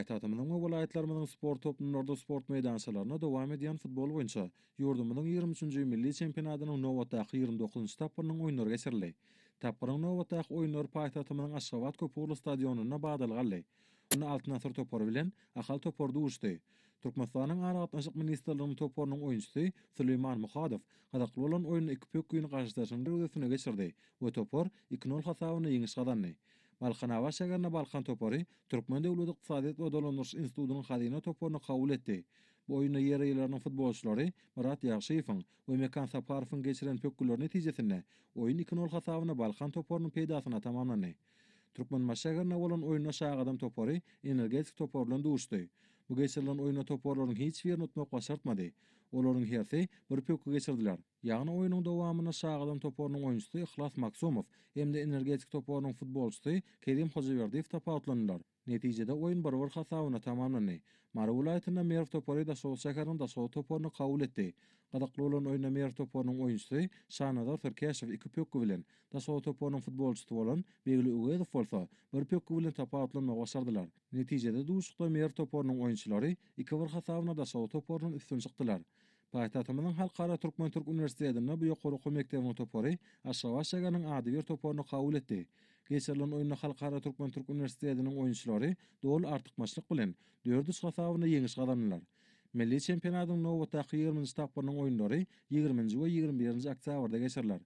Paýtagtymyzyň we welaýatlarymyzyň sport toplumlarda sport meýdançalarynda dowam edýän futbol boýunça ýurdumyzyň ýigrimi üçünji milli çempionatynyň nobatdaky ýigrimi dokuzynjy tapgyrynyň oýunlary geçirildi. Tapgyryň nobatdaky oýunlary paýtagtymyzyň Aşgabat köp ugurly stadionynda badalga aldy. Onda Altyn asyr topary bilen Ahal topary duşdy. Türkmenistanyň Aragatnaşyk ministrliginiň toparynyň oýunçysy Süleýman Muhadow gyzykly bolan oýnuny iki pökgin garşydaşynyň derwezesine geçirdi we topar iki nol hasabynda ýeňiş gazandy. Balkan Awaş şäherinde Balkan topary Türkmen döwlet ykdysadyýet we dolandyryş institutynyň hazyna toparyny kabul etdi. Bu oýunda ýerýileriniň futbolçylary Myrat Ýagşyýewiň we Mekan Saparowyň geçiren pökgüleri netijesinde oýun iki nol hasabyna Balkan toparynyň peýdasyna tamamlandy. Türkmenbaşy şäherinde bolan oýunda Şagadam topary Energetik topary bilen duşdy. Bu geçirilen oýunda toparlaryň hiç birini utmak başartmady. Olaryň hersi bir pökgi geçirdiler. Ýagny oýnuň dowamynda Şagadam toparynyň oýunçysy Yhlas Magsumow hem-de Energetik toparynyň futbolçysy Kerim Hojaberdiýew tapawutlandylar. Netijede oýun bir-bir hasabyna tamamlandy. Mary welaýatynda Merw topary Daşoguz şäheriniň Daşoguz toparyny kabul etdi. Gyzykly bolan oýunda Merw toparynyň oýunçysy Şanazar Türkeşow iki pökgi bilen, Daşoguz toparynyň futbolçysy bolan Begli Öwezow bolsa bir pökgi bilen tapawutlanmagy başardylar. Netijede duşuşykda Merw toparynyň oýunçylary iki-bir hasabyna Daşoguz toparyndan üstün çykdylar. Paýtagtymyzyň Halkara türkmen-türk uniwersitetinde bu ýokary okuw mekdebiniň topary Aşgabat şägeriniň adybir toparyny kabul etdi. Geçirilen oýunda Halkara türkmen-türk uniwersitetiniň oýunçylary doly artykmaçlyk bilen, dört üç hasabynda ýeňiş gazandylar. Milli çempionatyň nobatdaky ýigriminji tapgyrynyň oýunlary ýigriminji we ýigrimi birinji oktýabrda geçiriler.